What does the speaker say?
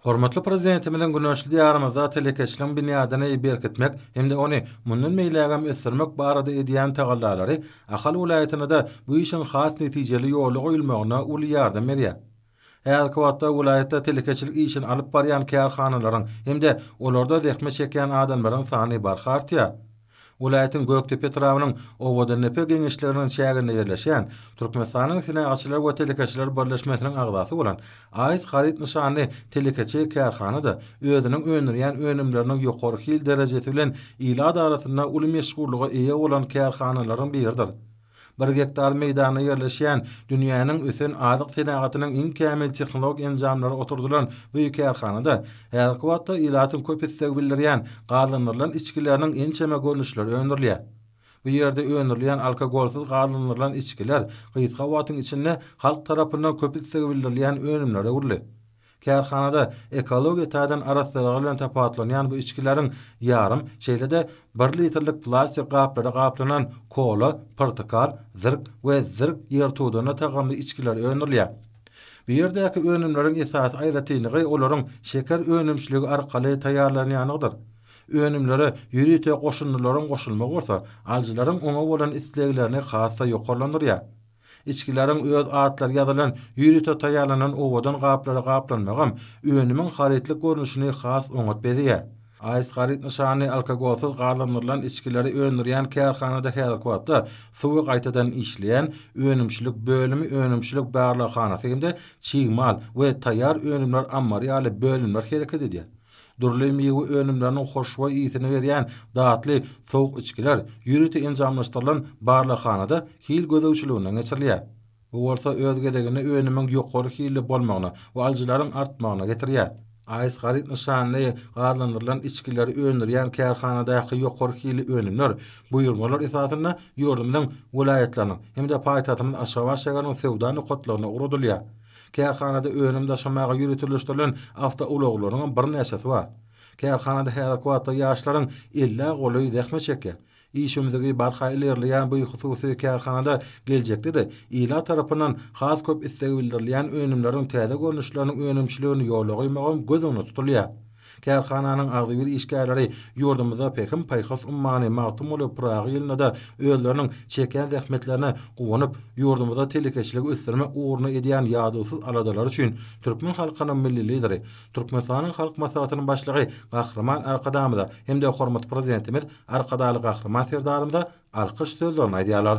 Hormatly Prezidentimiziň güneşli Diýarymyzda telekeçiligiň binýadyny berkitmek hem-de ony mundan beýlägem ösdürmek barada edýän tagallalary Ahal welaýatynda-da bu işiň has netijeli ýola goýulmagyna uly ýardam berýär. Häzirki wagtda welaýatda telekeçilik işini alyp barýan kärhanalaryň hem-de olarda zähmet çekýän adamlaryň sany barha artýar. Welaýatyň Gökdepe etrabynyň Owadandepe geňeşliginiň çäginde ýerleşýän, Türkmenistanyň Senagatçylar we telekeçiler birleşmesiniň agzasy bolan AIS haryt nyşanly telekeçi kärhana-da özüniň öndürýän önümleriniň ýokary hil derejesi bilen ilat arasynda uly meşhurlyga eýe bolan kärhanalaryň biridir. Bir gektar meýdanda ýerleşýän, dünýäniň ösen azyk senagatynyň iň kämil tehnologik enjamlary oturdylan bu kärhanada häzirki wagtda ilatyň köp isleg bildirýän gazlandyrylan içgileriniň ençeme görnüşleri öndürilýär. Bu ýerde öndürilýän alkogolsyz gazlandyrylan içgiler gysga wagtyň içinde halk tarapyndan köp islegi bildirilýän önümlere öwrüldi. Kärhanada ekologiýa taýdan arassalygy bilen tapawutlanýan bu içgileriň ýarym, şeýle-de bir litrlik plastik gaplara gaplanan kola, portakal, zirk we zirk ýertuduna tagamly içgiler öndürilýär. Bu ýerdäki önümleriň esasy aýratynlygy olaryň şeker önümçiligi arkaly taýýarlanýandygydyr. Önümlere ýörite goşundylaryň goşulmagy bolsa, alyjylaryň oňa bolan isleglerini has-da ýokarlandyrýar. Içgileriň öz atlary ýazylan ýörite taýýarlanan owadan gaplara gaplanmagam önümiň harytlyk görnüşini has oňat bezeýär. AS haryt nyşanly alkogolsyz gazlandyrylan içgileri öndürýän kärhanada häzirki wagtda suwy gaýtadan işleýän önümçilik bölümi, önümçilik barlaghanasy hem-de çig mal we taýýar önümler ammary ýaly bölümler hereket edýär. Dürli miwe önümleriniň hoşboý ysy-ny berýän datly sowuk içgiler ýörite enjamlaşdyrylan barlaghanada hil gözegçiliginden geçirilýär. Bu bolsa öz gezeginde önümiň ýokary hilli bolmagyna we alyjylaryň artmagyna getirýär. AES haryt nyşanly gazlandyrylan içgileri öndürýän kärhanadaky ýokary hilli önümler buýurmalar esasynda ýurdumyzyň welaýatlarynyň hem-de paýtagtymyz Aşgabat şäheriniň söwda nokatlaryna ugradylýar. Kärhanada önüm daşamaga ýöriteleşdirilen awtoulaglaryň hem birnäçesi bar. Kärhanada häzirki wagtda ýaşlaryň ellä golaý zähmet çekýär. Işewmzigi barha ilerleýän bu hususy kärhanada geljekde-de ilat tarapyndan has köp isleg bildirilýän önümleriň täze görnüşleriniň önümçiligini ýola goýmagam göz öňünde tutulýar. Kärhananyň agzybir işgärleri ýurdumyzda Pähim-paýhas ummany Magtymguly Pyragy ýylynda-da özleriniň çekýän zähmetlerine guwanyp, ýurdumyzda telekeçiligi ösdürmek ugrunda edýän ýadawsyz aladalary üçin türkmen halkynyň Milli Lideri, Türkmenistanyň Halk Maslahatynyň Başlygy Gahryman Arkadagymyza hem-de hormatly Prezidentimiz Arkadagly Gahryman Serdarymyza alkyş sözlerini aýdýarlar.